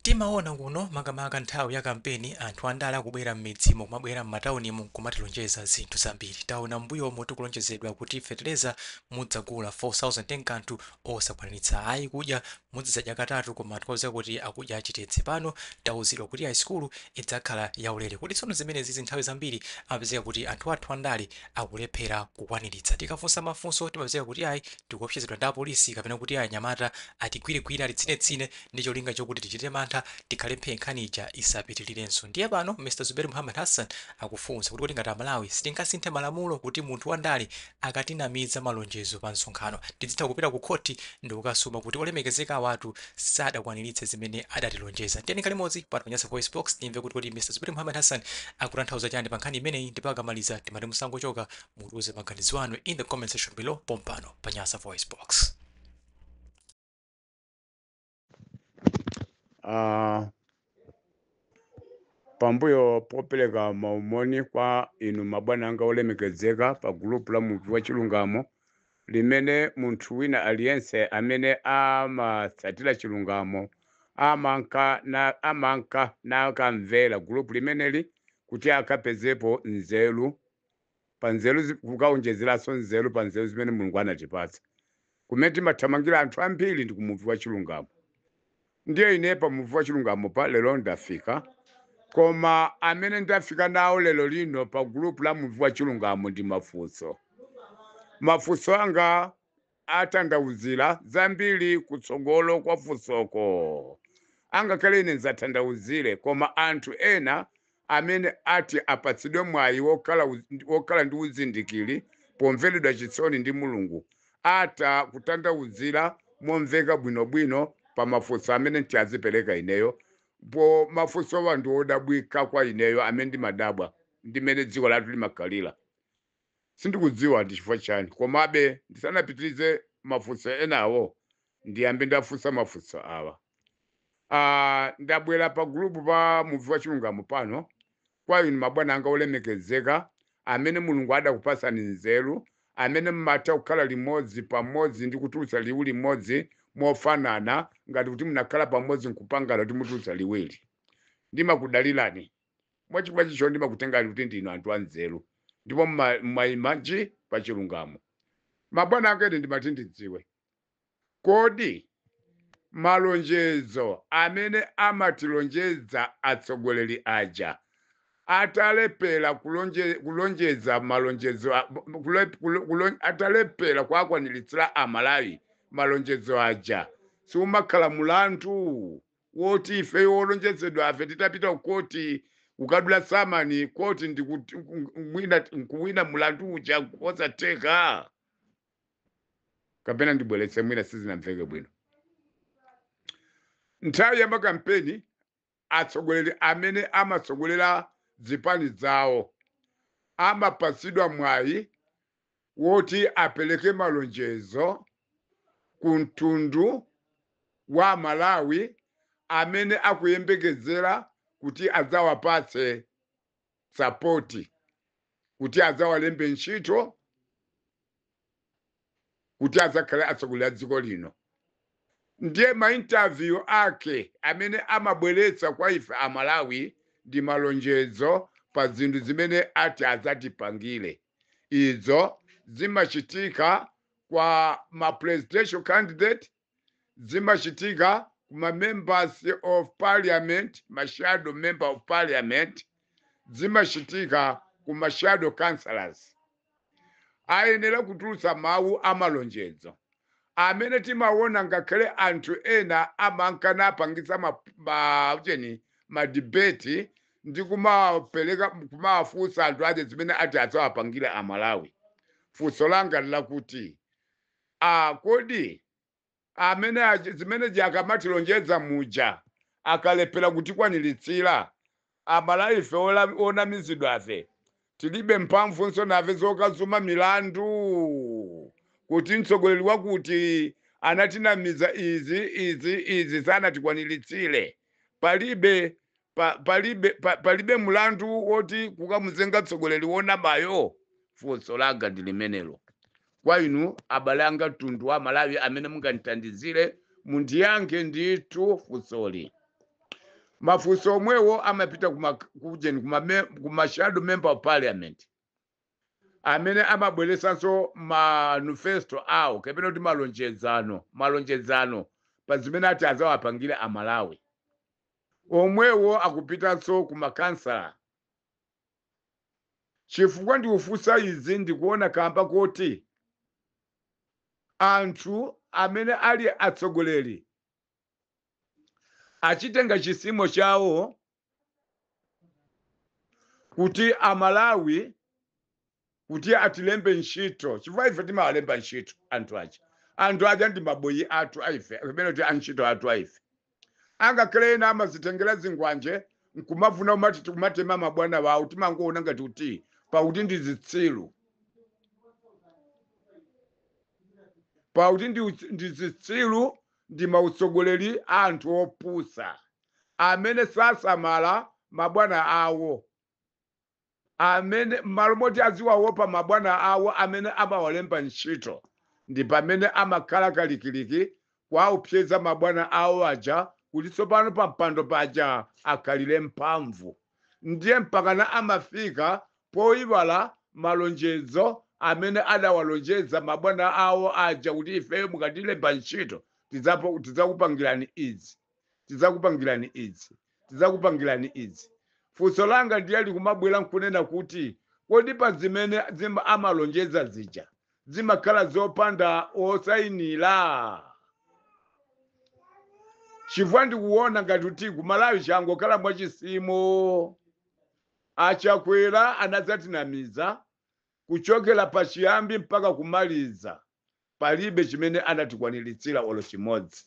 Timaona kuno makamaka nthawi ya kampeni anthu andale akubwera m'midzimu kumabwera m'mataunimu nkumatilonjeza zinthu zambiri. Taona m'mbuyomu tikulonjezedwa kuti fetereza mudzagula 4,000 kanthu osakwaniritsa ayi, kudya muzidzadya katatu koma anthu tikudziwa kuti akudya chitedze. Pano tauzidwa kuti ayi sukulu idzakhala yaulere. Kodi tsono zimenezizi nthawi zambiri amapezeka kuti anthu athu andale akulephera kukwaniritsa. Tikafunsa mafunso timapezeka kuti ayi tikuopsezedwa ndi apolisi kapena kuti ayi anyamata atigwiregwire, atitsinetsine. ndi cholinga chokuti tichite mantha, tikhale phee nkhani ija isapitilirenso. Ndiye pano Mr Zuberi Muhammad Hassan akufunsa kuti kodi ngati a Malawi sitingasinthe malamulo kuti munthu wa ndale akatinamiza malonjezo pa msonkhano tidzitha kupita ku khothi ndikukasuma kuti olemekezeka awatu sadakwaniritse zimene adatilonjeza? Tiyeni tikhale limodzi pano pa Nyasa VoiceBox timve kuti kodi Mr Zuberi Muhammad Hassan akutanthauza chani pa nkhani imeneyi ndipo akamaliza timati musangochoka mutiuze maganizo anu in the comment section below pompano pa Nyasa VoiceBox. Ah, pambuyo popereka maumoni kwa inu mabwana anga olemekezeka pa gulupu la muvi wa chilungamo limene munthu wina aliyense amene amatsatira chilungamo amanka na amanka nakamvera gulupu limeneli kuti akapezepo nzeru pa nzeru zi- kukaonjezeranso nzeru pa nzeru zimene mulungu anatipatsa kumene timathamangira anthu ambiri ndi kumuvi wa chilungamo ndiye ine pa muvi wa chilungamo pa lero ndafika koma amene ndafika nawo lero lino pa gulupu la muvi wa chilungamo ndi mafunso mafunso anga atanthauzira zambiri kutsogolo kwa funsoko. Angakhale ine ndzatanthauzire, koma anthu ena amene ati apatsidwe mwayi wokhala uz- wokhala ndi uzindikiri pomveredwa chisoni ndi Mulungu atha kutanthauzira momveka bwinobwino pa mafunso amene nti azipereka ineyo poti mafunsowa ndi odabwika kwa ineyo amene ndimadabwa ndi mmene dziko lathu limakhalira Sindikudziwa ndi chifukwa chani, komabe ndisanapitirize mafunso enawo, ndiyambe ndafunsa mafunso awa. Ah, ndabwera pa gulupu pa Muvi wa Chilungamo pano kwa inu mabwana anga olemekezeka, amene Mulungu adakupatsani nzeru, amene mumatha kukhala limodzi, pamodzi, ndi kutulutsa liwu limodzi mofanana ngati kuti munakhala pamodzi nkupangana kuti mutulutsa liwu ili. Ndimakudalirani. mwa chifukwa chicho ndimakutengani kuti ndinu anthu anzeru ndipo mma- mmayima nji pa chilungamo mabwana anga ine ndimati ndidziwe kodi malonjezo amene amatilonjeza atsogoleri aja atalepera kulonje, kulonjeza malonjezo a- kule, kulo- kulo- atalepera kuakwaniritsira amalawi malonjezo aja siumakhala mulandu woti ifeyo olonjezedwafe titapita ku koti ukadula samani koti ndi kuti- nk- mwina nkuwina mulandu uja nkosatheka kapena ndibweretse mwina sizinamveke bwino nthawi ya makampeni atsogoleri amene amatsogolera zipani zawo amapatsidwa mwayi woti apereke malonjezo ku mtundu wa Amalawi amene akuyembekezera kuti adzawapatse sapoti, kuti adzawalembe ntchito, kuti adzakhale atsogoleri a dziko lino. Ndiye maintaviyu ake amene amabweretsa kwa ife Amalawi ndi malonjezo pa zinthu zimene ati adzatipangire. Izo zimachitika kwa ma presidential candidate, zimachitika ku ma members of parliament, ma shadow member of parliament, zimachitika ku ma shadow councillors. Ayenera kutulutsa mawu amalonjezo amene timaona ngakhale anthu ena amanka napangitsa ma, ma, ujeni, ma debate ndi kumawapeleka kumawafunsa anthu aja zimene ati adzawapangire amalawi funso langa nlakuti a kodi amene achi- zimene zija akamatilonjeza muja akalephera kutikwaniritsira amalawife ola- onamizidwafe tilibe mphamvunso nafe zokasuma milandu kuti mtsogoleri wakuti anatinamiza izi izi izi sanatikwaniritsire palibe pa, palibe, pa, palibe mlandu woti kukamuzenga mtsogoleri wonamayo funso langa ndi limenelo kwa inu abale anga mtundu wa malawi amene mungandithandizire mundiyankhe ndithu funsoli mafunso omwewo amapita kuma ujeni kuma, me- kuma shadow member of parliament amene amabweresanso manifesto awo kapena kuti malonjezano malonjezano pa zimene ati azawapangire amalawi omwewo akupitanso ku makhansala? Chifukwa ndikufunsa izi ndikuona kamba koti anthu amene ali atsogoleri achitenga chisimo chawo kuti a Malawi kuti atilembe ntchito chifukwa ife timawalemba ntchito anthu aja anthu aja ndi maboyi athu aife kapena kuti antchito athu aife angakhale ena amazitengera zingwanje nkumafuna kumatema mabwana wawo timangoona ngati kuti pakuti ndi zitsiru pakuti ndi, utsi- ndi zitsiru ndi mautsogoleri a anthu opusa amene sasamala mabwana awo amene m'malo moti aziwaopa mabwana awo amene amawalemba ntchito, ndi pamene amakhala kalikiliki kuwaopseza mabwana awo aja kuti tsopano pampando paja akhalire mphamvu. Ndiye mpakana amafika poiwala malonjezo amene adawalonjeza mabwana awo aja kuti ifeyo mukatilemba ntchito tidzakupangirani izi. tidzakupangirani izi, tidzakupangirani izi. Funso langa ndiye likumabwera nkunena kuti kodi pa zimene zima- amalonjeza zija zimakhala zopanda osayinira? Chifukwa ndikuona ngati kuti kumalawi changokhala mwachisimo. Achakwera anadzatinamiza kuchokera pachiyambi mpaka kumaliza. palibe chimene anatikwaniritsira olo chimodzi.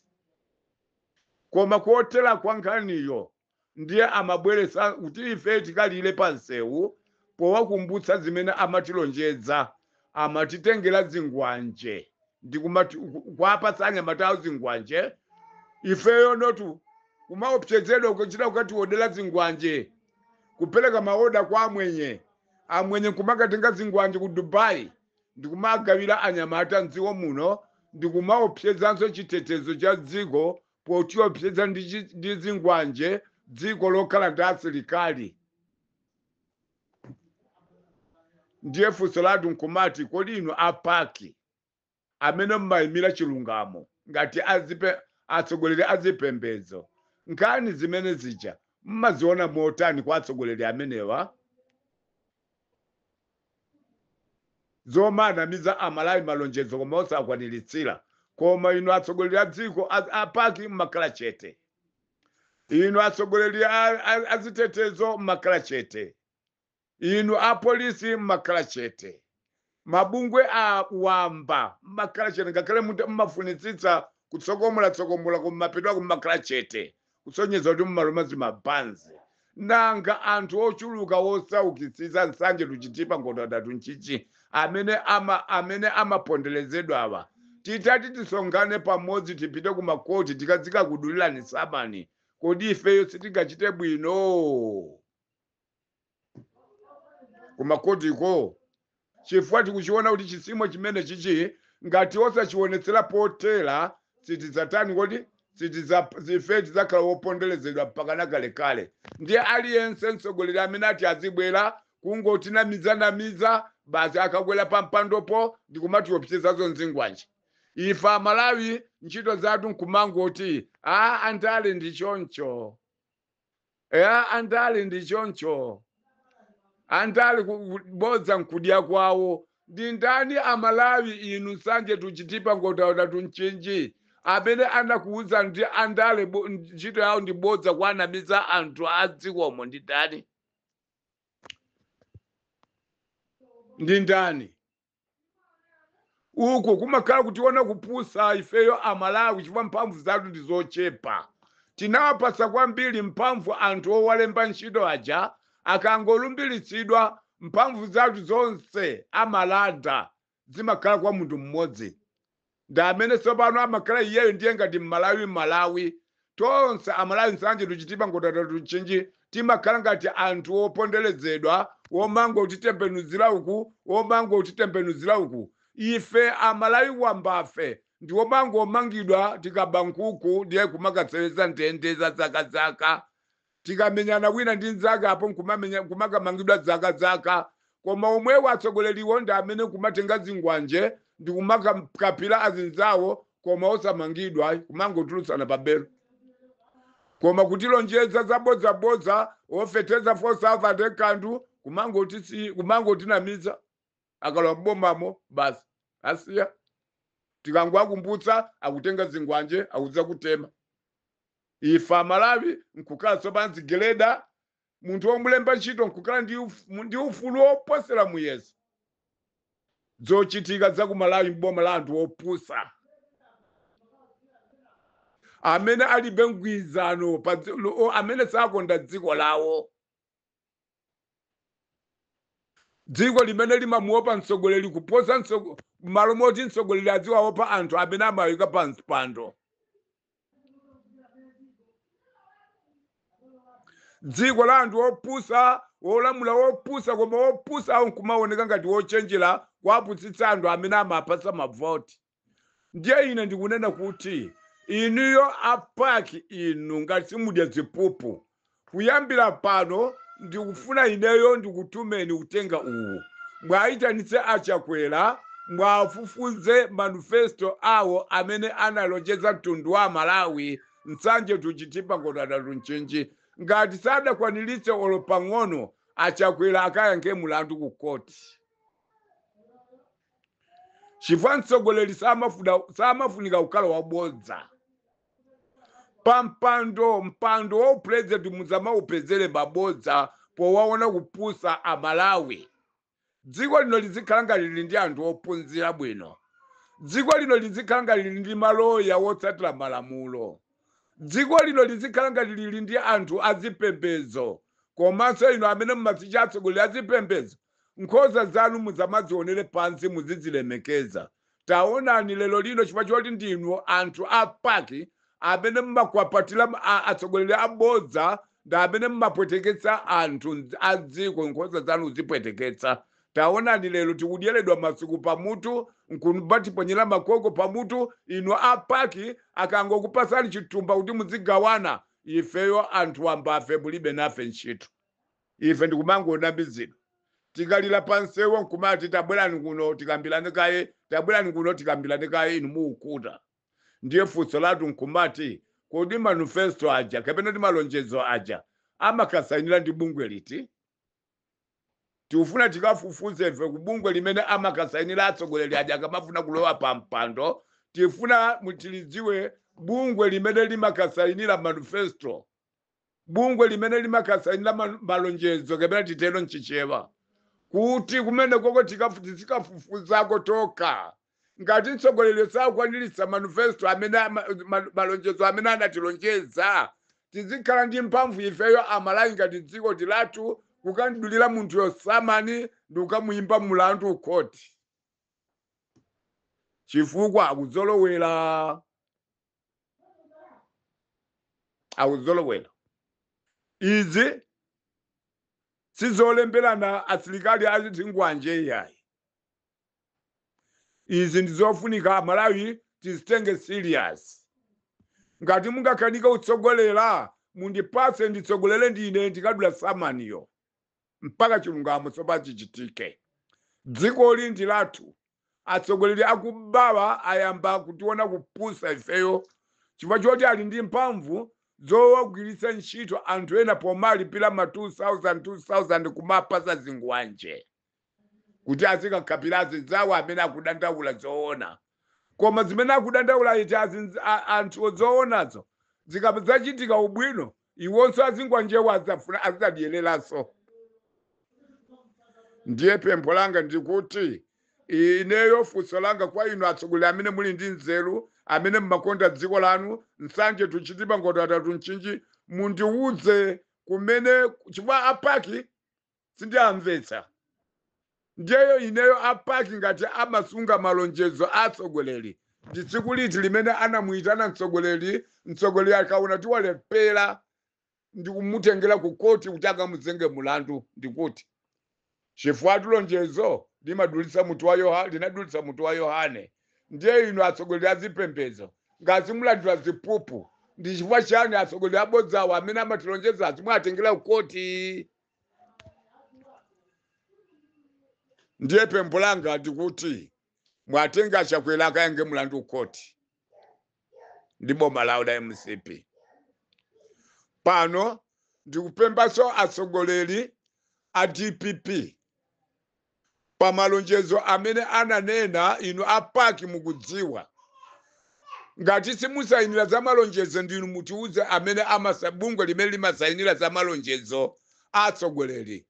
Koma kutheka kwa nkhaniyo ndiye amabweretsa kuti ife tikalire pa msewu powakumbutsa zimene amatilonjeza, amatitengera zingwanje ndi kumati- ku- kuwapatsa anyamata awo zingwanje, ifeyo notu kumaopsezedwa kuchita kukatiodera zingwanje, kupereka maoda kwa amwenye, amwenye nkumakatenga zingwanje ku Dubai. ndikumagawira anyamata m'dziko muno ndikumaopsezanso chitetezo cha dziko potiopseza ndi chi- ndi zingwanje dziko lokhala ndi asilikali ndiye funso lathu nkumati kodi inu apaki amene mmayimira chilungamo ngati azipe- atsogoleri azipembedzo nkhani zimene zija mmaziona motani kwa atsogoleri amenewa zomanamiza amalawi malonjezo koma osawakwaniritsira koma inu atsogoleri a dziko a- a paki mmakhala chete inu atsogoleri a- a- azitetezo mmakhala chete inu apolisi mmakhala chete mabungwe a wamba mmakhala chete ngakhale muta- mmafunitsitsa kutsokomolatsokomola koma mapeto ake mmakhala chete kusonyeza kuti mmaluma zimabanzi nanga anthu ochuluka wosaukitsitsa nsanje to Chitipa ngodya zitatu Ntchisi amene ama amene amaponderezedwawa titati tisonkhane pamodzi tipite ku makoti tizikakudulirani samani kodi ifeyo sitingachite bwino kumakhotiko chifukwa tikuchiona kuti chisimo chimene chichi ngati osachionetsera potera sitidzatani kodi sitidza- ife tidzakhala woponderezedwa mpakana kalekale ndiye aliyense mtsogoleri amene ati azibwera kungotinamizanamiza basi akakwera pa mpandopo ndi kumatiopsezazo nzingwanje ife amalawi ntchito zathu nkumangoti a andale ndi choncho ya andale ndi choncho andale ku- ku- bodza nkudya kwawo ndi ndani amalawi inu nsanje to chitipa nkhotakota to mchinji amene anakuwuza kuti andale bo- ntchito yawo ndi bodza kuwanamiza anthu a dzikomo ndi ndani ndi ndani uko kumakhala kutiona kupusa ifeyo amalawi chifukwa mphamvu zathu ndi zochepa tinawapatsa kwambiri mphamvu anthu owalemba ntchito aja akangolumbiritsidwa mphamvu zathu zonse amalanda zimakhala kwa munthu mmodzi ndi amene tsopano amakhala iyeyo ndiye ngati mmalawi malawi tonse amalawi nsanje to chitipa nkhotakota to mchinji timakhala ngati anthu woponderezedwa womangotitembenuzira uku womangotitembenuzira uku ife amalawi wambafe ndi womangomangidwa tikaba nkhuku ndiye kumakaseweza ndende za zakazaka Tikamenyana wina ndi nzake apo nkumakamangidwa zakazaka koma omwewo atsogoleriwo ndi amene kumatenga zingwanje ndikumakhapila azinzawo koma osamangidwa kumangotulutsana pa belo koma kutilonjeza zabodza bodza ofeteza 4000 kanthu kumangotisi kumangotinamiza akalowa m'bomamo basi asiya tikangowakumbutsa akutenga zingwanje akudzakutema ife amalawi nkukhala tsopano zigeleda munthu womulemba ntchito nkukhala ndi uf- mu- ndi ufulu woposera muyeso zochitika za ku malawi m'boma la anthu opusa amene alibe mgwirizano pa dzi- lo- o- amene sakonda dziko lawo dziko limene limamuopa mtsogoleri kuposa mtsogo- m'malo moti mtsogoleri aziwaopa anthu amene amawika pa mpando dziko la anthu opusa wolamula wopusa koma wopusawo nkumaoneka ngati wochenjera kuwapusitsa anthu amene amapatsa mavoti ndiye ine ndikunena kuti inuyo apaki inu ngati simudya ziphuphu kuyambira pano ndikufuna ineyo ndikutumeni uthenga uwu mwayitanitse achakwera mwafufuze manifesto awo amene analonjeza mtundu wa amalawi nsanje tu chithipa ngotha tunchinji ngati sadakwaniritse olo pang'ono achakwera akayankhe mulandu ku khoti chifukwa mtsogoleri samafuna samafunika kukhala wabodza pampando mpando wa upulezidenti musamaupezere mabodza powaona kupusa amalawi dziko lino lizikhala ngati lili ndi anthu ophunzira bwino dziko lino lizikhala ngati lili ndi maloya wotsatira malamulo dziko lino lizikhala ngati lili ndi anthu azipembedzo komanso inu amene mumazitcha atsogoleri azipembedzo Nkhosa zanu musamazionere pansi, muzizilemekeza. Taonani lero lino chifukwa choti ndinu anthu a pac amene mumakwapatira atsogoleri abodza ndi amene mumapweteketsa anthu mdz- a dziko nkhosa zanu kuzipweteketsa. Taonani lero tikudyeredwa masuku pamutu nkumatiponyera makoko pamutu. Inu a pac akangokupasani chitumba kuti muzigawana, ifeyo anthu wambafe mulibe nafe ntchito. Ife ndikumangonamizidwa. Tikalira pa msewu nkumati, Tabwerani kuno tikambirane kaye, tabwerani kuno tikambirane kaye, inu mukukhuta. Ndiye funso lathu nkumati, Kodi manifesto aja kapena ndi malonjezo aja amakasainira ndi bungwe liti? Tikufuna tikafufuze ife ku bungwe limene amakasainira atsogoleri aja akamafuna kulowa pa mpando. Tifuna mu- tilidziwe bungwe limene limakasainira manifesto. bungwe limene limakasainira ma- malonjezo kapena titero mchichewa kuti kumene koko tikafu- tizikafufuzako tokha ngati mtsogoleri sakwaniritsa manifesto amene ama- ma- malonjezo amene anatilonjeza tizikhala ndi mphamvu ifeyo amalawi ngati dziko ndi lathu kukamudulira munthuyo samani ndi kukamuyimba mulandu ukhoti chifukwa akuzolowera akuzolowera izi sizolemberana asilikali azingwanje iyayi izi ndizofunika amalawi tizitenge serious ngati mungakanike kutsogolera mundipatse nditsogolere ndine ndikadula samaniyo mpaka chilungamo tsopano chichitike. Dzikoli ndi lathu. Atsogoleri akubawa ayamba kutiona kupusa ifeyo chifukwa choti ali ndi mphamvu zowagwiritsa ntchito anthu ena powalipira ma 2000 2000 kuwapatsa zingwanje kuti azikakhapira azinzawo amene akudandaula zoona. koma zimene akudandaula iti azinz- a- anthu zoonazo zikadzachitika ubwino iwonso azingwanjewa adzafuna azidzadyereranso ndiye pempho langa ndikuti ineyo funso langa kwa inu atsogoleri amene muli ndi nzeru amene mmakonda dziko lanu nsanje to chitipa nkhotakota to mchinji mundiwuze kumene chifukwa a pac sindiwamvetsa ndiyeyo ineyo a pac ngati amasunga malonjezo a atsogoleri ndi tsiku liti limene anamuyitana mtsogoleri mtsogoleri akaona kuti walephera ndi kumutengera ku koti kuti akamuzenge mulandu ndikuti chifukwa lonjezo linadulitsa mutu wa yohane ndiye inu atsogoleri a zipembedzo ngati simulandira ziphuphu ndi chifukwa chiyani atsogoleri abodzawo amene amatilonjeza simuwatengera ku koti ndiye pempho langa ndikuti muwatenge a chakwera akayankhe mlandu ku koti ndi boma lawo la mcp pano ndikupemphanso atsogoleri a dpp pa malonjezo amene ananena inu a pac mukudziwa ngati simusayinira za malonjezo ndinu mutiuze amene amasa bungwe limene limasayinira za malonjezo a atsogoleri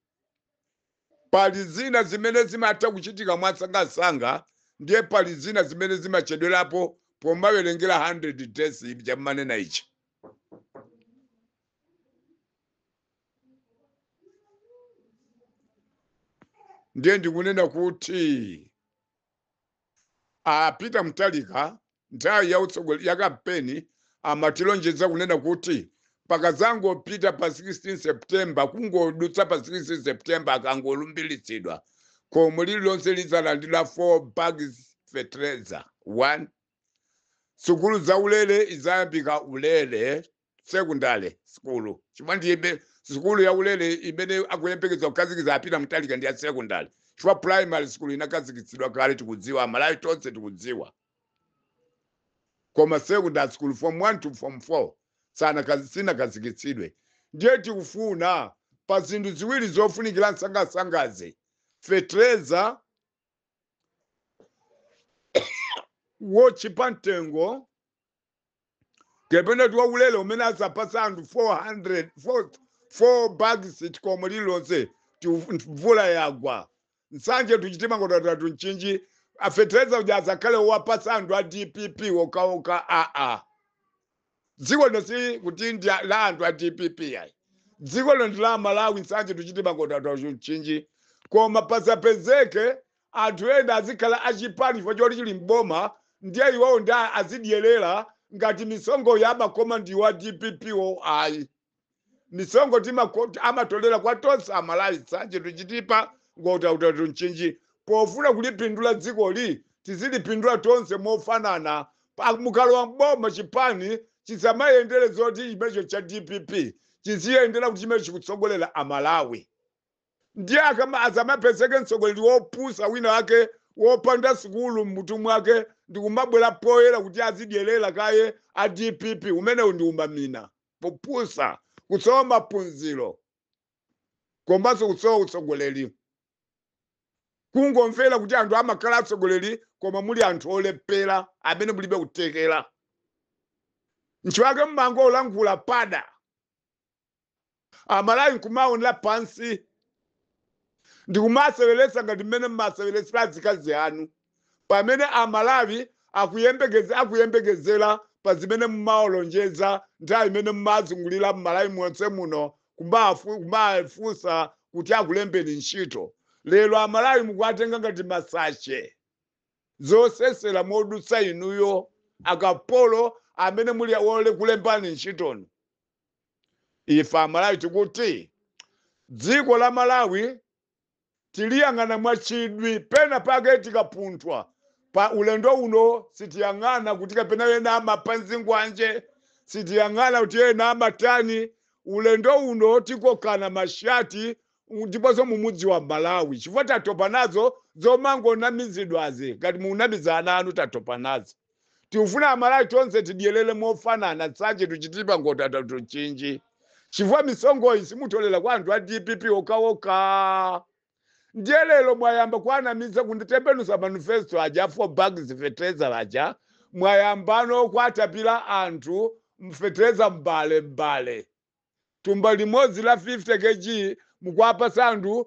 pali zina zimene zimatha kuchitika mwasangasanga ndiye pali zina zimene zimachedwerapo pomawerengera 100 days chamanena ichi ndiye ndikunena kuti a peter mutharika nthawi ya utsogoleri ya kampeni amatilonjeza kunena kuti pakadzangopita pa 16 september kungodutsa pa 16 september akangolumbiritsidwa khomo lililonse lidzalandira 4 bags fertilizer 1 sukulu za ulere idzayambika ulere sekondale sukulu chifukwa ndiye sukulu yaulere imene akuyembekeza kukhazikitsa a peter mutharika ndi ya sekondale chifukwa primary sukulu inakhazikitsidwa kale tikudziwa amalawi tonse tikudziwa koma sekondale sukulu form 1 to form 4 sanakhazi- sinakhazikitsidwe ndiye tikufuna pa zinthu ziwiri zofunikira nsangasangazi fetereza wotchipa mtengo kapena kuti waulere umene azapasa anthu 4 bags khomo lililonse ti mvula yagwa nsanje to chitipa nkhotakota to mchinji fetereza uja asakhale owapasa anthu a dpp okhaokha aa dziko lino si kuti ndi a- la anthu a dpp ayi dziko lino ndi la amalawi nsanje to chitipa nkhotakota to mchinji koma pasapezeke Anthu ena azikhala a chipani chifukwa choti chili m'boma ndiye iwowo ndi azidyelera ngati misonkhoyo amakhoma ndi a dpp wo ayi. Misonkhoyi amatolera kwa tonse a Malawi Nsanje to Chitipa Nkhotakota to Mchinji. Pofuna kulipindula dzikoli tizilipindula tonse mofanana. Mukalowa m'boma chipani chisamayendere zoti chimenecho cha dpp chiziyendera kuti chimenecho chikutsogolera a Malawi. Ndiye asamapezeke mtsogoleri wopusa wina wake wopanda sukulu mmutu mwake ndikumabwera poyera kuti azidyelera kaye a dpp umenewu ndi umamina, kupusa, kusowa maphunziro komanso kusowa utsogoleri. Kungomvera kuti anthu amakhala atsogoleri koma muli anthu olephera amene mulibe kuthekera. Nchifukwa chake mumangolankhula pada. amalawi nkumaonera pansi ndikumaseweretsa ngati mmene mmaseweretsera azikazi anu pamene amalawi akuyembekeze akuyembekezera pa zimene mumawalonjeza nthawi imene mumazungulira mmalawi monse muno kumafu- kumafunsa kuti akulembeni ntchito lero amalawi mukuwatenga ngati masache zosesera modutsa inuyo akapolo amene muli wole kulembani ntchito inu ife amalawi tikuti dziko la malawi tiliyang'ana mwachidwi pena pake tikapunthwa pa ulendo uno sitiyang'ana kuti kapena ena amapha nzikwanje sitiyang'ana kuti ena amatani ulendo uno tikokana mashati ndiponso mumudziwa malawi chifukwa tatopa nazo zomangonamizidwazi ngati munamiza ana anu tatopa nazo Tikufuna amalawi tonse tidyelele mofanana nsanje to chitipa nkhotakota to mchinji chifukwa misonkhoyi simutolera kwa anthu a dpp okhaokha ndiye lero mwayamba kuwanamiza kunditembenuza manifesto aja a four bags fertilizer aja mwayambano kuwatapira anthu mfeteleza mbale mbale thumba limodzi la 50 kg mukuwapatsa anthu